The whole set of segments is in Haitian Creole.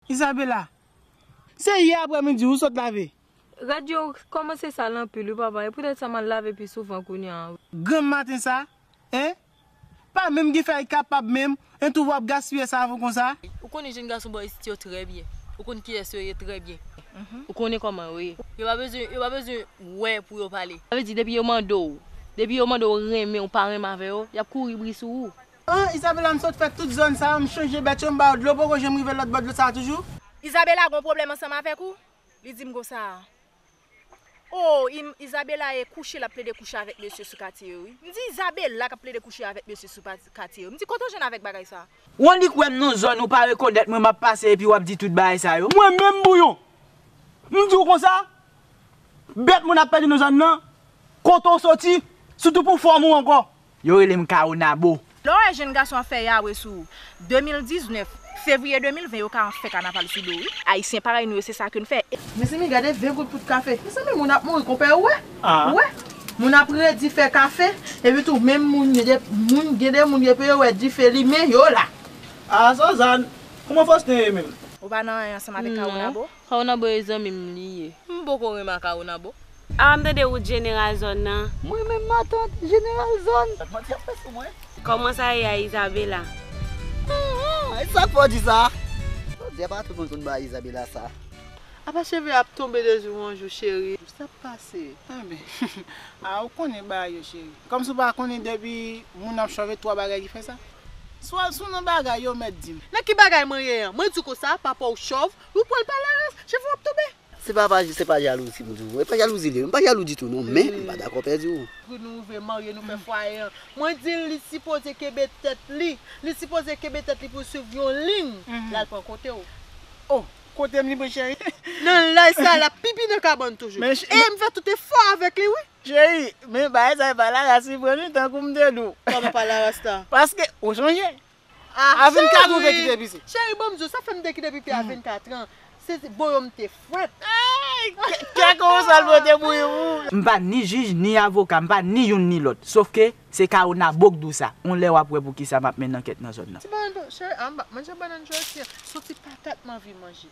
Isabella. Se yè aprè midi ou sot lave? Radyo ou kòmanse sal anpil wi papa e poutèt sa m'al lave pi souvan kounya a wi. Grann maten sa hein. Pa menm gen fè ay kapab menm, en tou wap gaspiyè savon konsa. Ou konnen jenn gason bò isit yo trè byen. Ou konn kiyès yo ye trè byen. Ou konnen kòman yo ye. Yo pa bezwen, yo pa bezwen wè pou yo pale. Sa vle di depi yo mande w, depi yo mande w renmen ou pa renmen avè yo, y'ap kouri bri sou ou. An, Isabela m sot fè tout zòn sa yo, m chanje bèt yo, m ba yo dlo, poko janm rive lòt bò dlo sa a toujou? Isabela gon pwoblèm ansanm avèk ou? Li di m konsa a. O, im, Isabela e kouche l ap plede kouche avèk mesye sou katye yo wi. M di Isabela k ap plede kouche avèk mesye sou pa, katye yo. M di kote w jwenn avèk bagay sa a? Ou annik wè m nan zòn ou pa rekonèt mwen m ap pase epi w ap di tout bagay sa yo? Mwen menm Bouyon, m di w konsa? Bèt moun ap pèdi nan zòn nan, kote w soti, sitou pou fòm ou ankò. Yo rele m Caonabo. Lè w wè jenn gason ap fè yawe sou 2019, fevriye 2020 yo ka an fè kanaval sou do w wi. Ayisyen parèy nou yo se sa ke n fè. Mezanmi gade 20 goud pout kafe. Mezanmi moun ap mouri konpè ou wè? Ou wè? Moun ap redi fè kafe, epi tou menm moun yo de moun gen de moun depi yo wè dife limen yo la. Ah Suzanne! Kouman Faustin ye menm? Ou pa nan anyen ansanm avèk Caonabo? Caonabo e zanmi m li ye. M poko renma Caonabo. Awa m tande ou t jeneral zòn nan. Mwen menm matant jeneral zòn. Sak manti ap fè sou mwen. Koman sa ye a Isabela. Aah e sak fè w di sa. Jodi a pa tout moun konn bay Isabela sa. Apa cheve ap tonbe de jou an jou cheri. Kisa kap pase. Enben ah ou konnen bagay yo cheri. Kòmsi ou pa konnen depi moun ap chòv e 3 bagay ki fè sa. Sou al sou non bagay yo ou mèt di m. Nan ki bagay mwen ye an. Mwen di w konsa papa w chòv. Ou pwal pale aras, chèf ou ap tonbe. Se pa pa se pa jalouzi m di w. E pa jalouzi li ye. M pa jalou ditou non men m pa dakò pèdi w. Pou nou rive marye nou fè fwaye an. Mwen di l li sipoze kenbe tèt li. Li sipoze kenbe tèt li pou l swiv yon liy. L al pran kote w. Oh! Kote m li pran cheri? Nan laj sa a l ap pipi nan kabann toujou. E m fè tout efò avèk li wi. Cheri, men bagay sa e pa laras li pran li tankou m te di w. Kòman pa laras la? Paske ou sonje A 24 ou te kite pise? Cheri banm diw sa fèm te kite pipi a 24 ans se bo yo m te fwèt. Kè konsal mwen te bouyi pou ou. M pa ni jij ni avoka, m pa ni youn ni lòt. Sof ke se Caonabo k di w sa. On lè w ap wè pou kisa m ap mennen ankèt nan zòn nan. Ti banann tou, cheri a m pa manje banann jodi an. Son ti patat m anvi manje.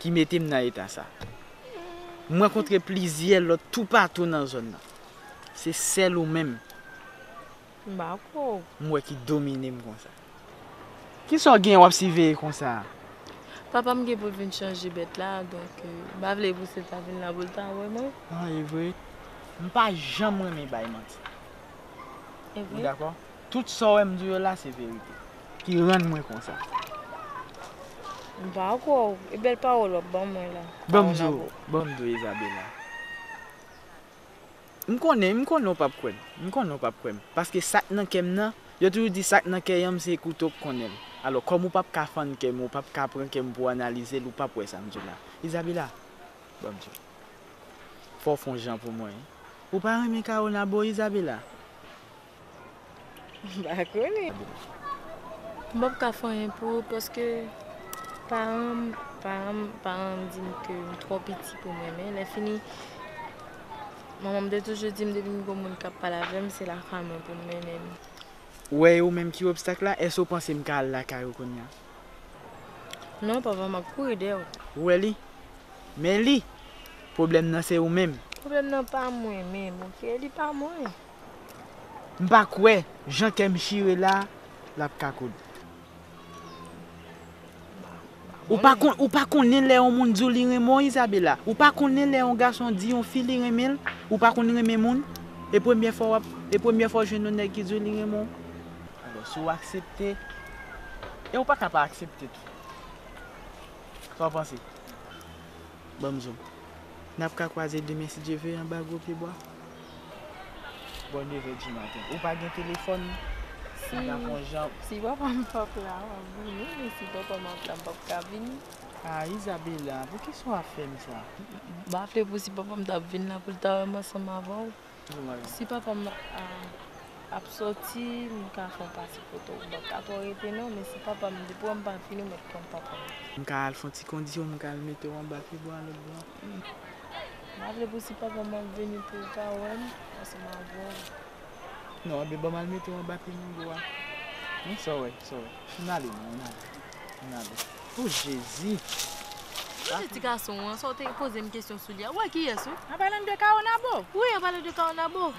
ki mete m nan eta sa. M rankontre plizyè lòt toupatou nan zòn nan. Se sèl ou menm m wè ki domine m konsa. Ki sa w gen w ap siveye konsa a? Papa m gen pou l vin chanje bèt la, donk m pa vle pou Seta vin la pou l ta wè mwen. An, e vre? M pa janm renmen bay manti. Ou dakò? Tout sa w wè m di w yo la se verite ki rann mwen konsa. M pa kwè w. E bèl pawòl w ap ban mwen la? Ban m di w, ban m di w Izabela. M konnen, m konnen w p ap kwè m. M konnen w p ap kwè m. Paske sa k nan kè m nan, yo toujou di sa k nan kè yanm se kouto k konnen l. Alò, kòm ou p ap ka fann kè m, ou p ap ka pran kè m pou w analize l, ou p ap wè sa m di w la. Izabela, ban m di w. Fò w fon jan pou mwen. Ou pa renmen Kawona boo Izabela? M pa konnen. M pap ka fè anyen pou ou paske paran m paran m paran m di m ke m twò piti pou m renmen. Lèfini manman m te toujou di m depi m gwo moun k ap pale avè m se lakay mwen pou m mennen m. Ou wè e ou menm ki obstak la? Èske ou panse m ka al lakay ou kounya? Non papa m ap kouri dèyè w. Ou wè li? Men li! Pwoblèm nan se ou menm. Pwoblèm nan pa mwen menm ok, li pa mwen. M pa kwè jan kè m chire la lap ka koud. Ou pa konnen lè yon moun di w li renmen w Isabella? Ou pa konnen lè yon gason di yon fi li renmen l? Ou pa konn renmen moun? E premyè fwa wap e premyè fwa w jwenn yon nèg ki di w li renmen w? Alò si w aksepte e ou pa ka pa aksepte tou. Sa w panse? Ban m zo. Nap ka kwaze demen si Dye ve anba gwo pye bwa? Bò 9 è di maten. Ou pa gen telefòn? Si Mwen ta pran jan. Si papa m pa p la, m ap vini. Men si papa m ap la, m p ap ka vini. A, Izabela, poukisa w ap fè m sa? M ap fè pou si papa m ta vin la, pou l ta wè m ansanm avè w. Si papa m ap soti, m ka fè yon pase kote w. M p ap ka twò rete non. Men si papa m, depi w wè m pa vini, w mèt konn papa m. M ka al fè yon ti kondisyon, m ka al mete w anba pye bwa lòt bò a? Mpa vle pou si papa m ap vini poul ka wèm paske m avèg. Non anben banm al metew anba pye mango a non sa w wè sa w wè an ale non an ale an ale ooh jezi. Kote ti gason an sa w te pozem kesyon sou li a ou wè kiyès ou. An palan de caonabo. Wi an palan de caonabo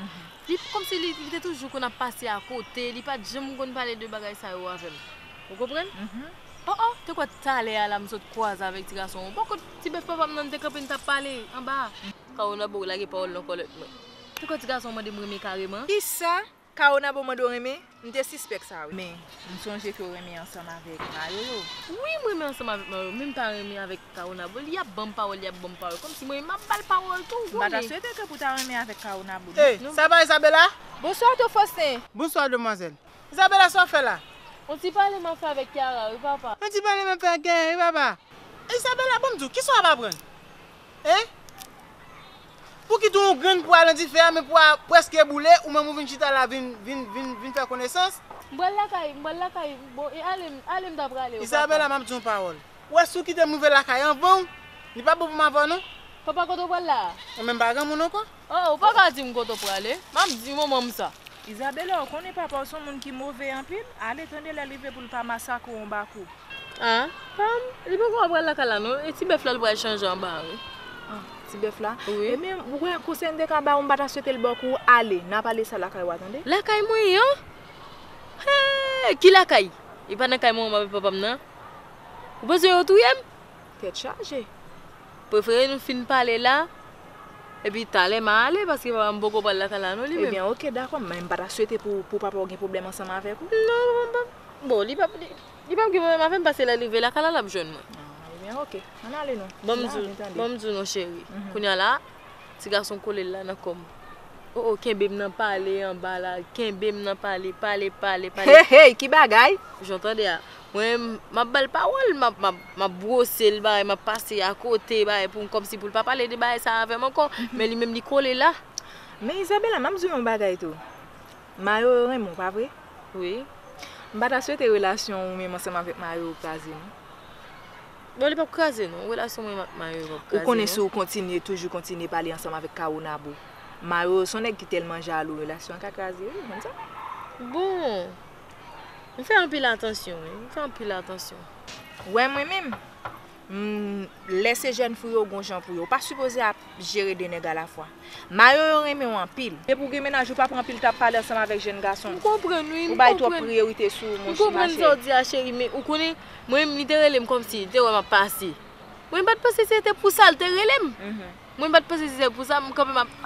li komsi li te toujou konn ap pase akote li pat janm konn pale de bagay sa yo avèm ou konprann. Oh oh te kwè talè a la m sot kwaze avèk ti gason an Bon kot ti bèf papa m nan nou te kanpe nou tap pale anba a. Caonabo ou lage pawòl nan kòlèt mwen Te kwè ti gason an mande m renmen kareman. Kisa Caonabo mande w renmen M te sispèk sa wi. Men m sonje ke w renmen ansanm avèk Mayoyo. Wi m renmen ansanm avèk Mayoyo men m pa renmen avèk Caonabo Li ap banm pawòl li ap banm pawòl kòmsi mwen menm m ap ba l pawòl tou M pa ta swete ke pou ta renmen avèk Caonabo non. Sa pa Isabella? Bonswa Tofostin! Bonswa demwazèl! Isabella sa w fè la? On ti pale m ap fè avèk Kiara wi papa. On ti pale m ap fè ak Kiara wi papa. Isabella bon m di w, kisa w ap aprann? Hein? Pouki tou yon grenn pwa nan dife a men pwa a prèske boule ou menm ou vin chita la vin vin vin vin fè konesans? M pral lakay, m pral lakay bon e ale m ale m ta prale yo papa. Isabella m ap di w yon pawòl. Ou wè si w kite m rive lakay anvan w li pa bon pou m avè w non. Papa kote w pral la a? Ou menm pa granmoun ankò? Oh ou paka dim kote ou prale map di manmanm sa. Isabela ou konnen papaw son moun ki move anpil ale tande lèl rive poul pa masakrew anba kou. Ah pam li poko pral lakay la non e ti bèf la li pral chanje anba a wi. Ah ti bèf la wi. Ebyen ou konnen konsèy mte ka baw mpata swetel baw kou ale nap ale sa lakay ou a tande. Lakay mwen an? Hee ki lakay e pa nan kay manmanm avèk papam nan ou panse yo touyem. Tèt chaje. Prefere nou fin pale la, epi talè ma ale paske papa m poko pral lakay la non li menm. Ebyen ok dakò men m pa ta swete pou papa w gen pwoblèm ansanm avèk ou. Non papa m pap, bon li pap li pap gen pwoblèm avè m paske lè l rive lakay la l ap jwenn mwen. Ah ebyen ok, ann ale nou, m la vin tande. Bon m di w non cheri, kounya la ti gason kole l la nan kò m. O o kenbe m nan pale anba la, kenbe m nan pale, pale pale pale. Hey hey ki bagay! Jan w tande a, Mwen map bal pawòl map map brosel bagay map pase akote bagay pou kòmsi poul pa pale de bagay sa avèm ankò men li menm li kole la. Men Isabella map diw yon bagay tou Mayo yo renmen w pa vre? Wi. M pa ta swete relasyon ou menm ansanm avèk Mayo yo kraze non. Bon li pap kraze non relasyon mwen menm ak Mayo yo pap kraze non. Ou konnen si w kontinye toujou kontinye pale ansanm avèk Caonabo Mayo yo son nèg ki tèlman jalou relasyon an ka kraze wi ou konn sa. Bon M fè anpil atansyon wi. M fè anpil atansyon. Wè mwen menm. M Lè se jèn fou yo gon jan pou yo. Ou pa sipoze ap jere 2 nèg alafwa. Mayo yo renmen w anpil. Depi w gen menaj ou pa pran pil tan ap pale ansanm avèk jèn gason. M konprann wi. M konprann. Ou bay twòp priyorite sou ou monche ma cheri. M konprann sa w di a cheri men ou konnen mwen menm li te rele m kòmsi li te wè m ap pase. Mwen pa t panse se te pou sa l te rele m. Mwen pa t panse se te pou sa. M kanpe m ap.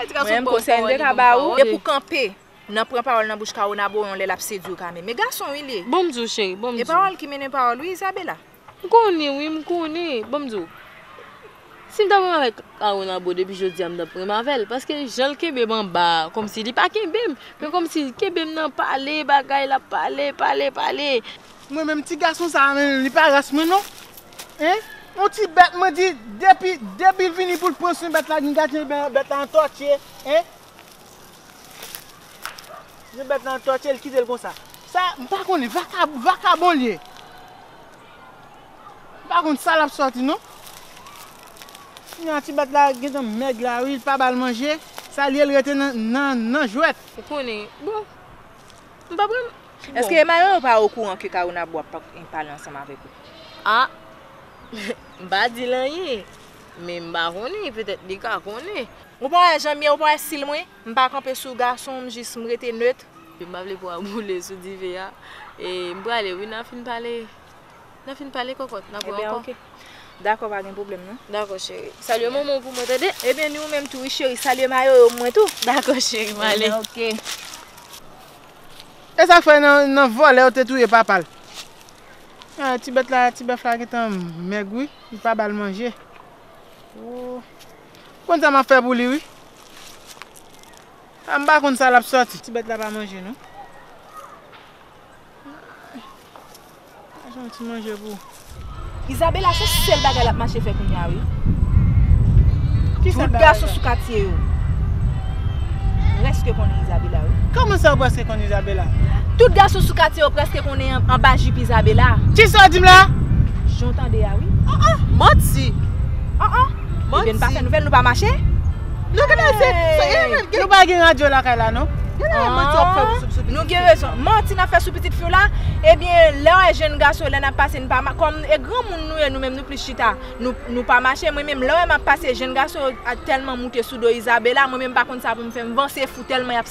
Mwen menm konsèy m te ka ba ou. Depi w kanpe Nan pran pawòl nan bouch Caonabo yon lè lap sedwiw Came. Me gason wi liye. Bonm diw cheri, bonm E diw. pawòl ki mennen pawòl wi Isabella. M konnen wi, m konnen. Bonm diw. Sim ta pranm avèk Caonabo depi jodia m tap pranm avèl paske janl kenbem anba a kòmsi li pa kenbem men kòmsi li kenbem nan pale bagay lap pale pale pale. Mwen menm ti gason sa menm li pa ras mwen non hein yon ti bèt mwen di depi depi vini poul pran swen bèt la gin gadyen bèt la antòtye hein. Yon bèt nan tòche l kite l konsa. Sa m pa konnen vakabon vakabon l ye. M pa konn sa l ap sòti non. Sinon ti bèt la gentan mèg la wi l pa ba l manje. Sa l ye l rete nan jwèt. Ou konnen bon m pa pral. Eske Mayo yo pa okouran ke Kawonabo ap pale ansanm avèk ou? Ah! M pa di l anyen. Men m pa konnen, petèt li ka konnen. Ou pa wè jan m ye, ou pa wè stil mwen? M pa kanpe sou gason, m jis m rete neutre. M pa vle po a boule sou dive a. E m prale wi, nan fin pale, nan fin pale kòkòt, nan pran ankò. Ebyen ok. Dakò pa gen pwoblèm non. Dakò cheri. Salye manman w pou mwen tande. Ebyen ni ou menm tou wi cheri, salye mayoyo pou mwen tou. Dakò cheri, m ale. Ebyen ok. E sa k fè nan vòlè yo te touye papa l? Ti bèt la, ti bèf la gentan mèg wi. Li pa bal manje ooh. M konn sa map fè pou li wi. Am pa konn sa lap sòti. Ti bèt la pa manje non. Chache yon ti manje pou ou. Isabella se sèl bagay lap mache fè kounya wi. Tout gason sou katye yo. Preske konnen Isabella wi. Kòman sa ou preske. konn Isabella. Tout gason sou katye yo preske konnen anba jip Isabella. Kisa wap dim la? Jan w tande a wi. Ah ah manti. Ah ah manti. Ebyen nou pa fè nouvel nou pa mache? Non gade se se e nan gen. Nou pa gen radyo lakay la non. Gen lè e manti wap fè pou sou pitit. Nou gen rezon. Manti nap fè sou pitit fi w la? Ebyen lè w e jenn gason lè nap pase nou pa ma kòm e granmoun nou ye nou menm nou plis chita nou nou pa mache mwen menm lè w e map pase jenn gason yo tèlman moute sou do Isabella mwen menm pa konn sa pou m fè m vanse fou tèlman yap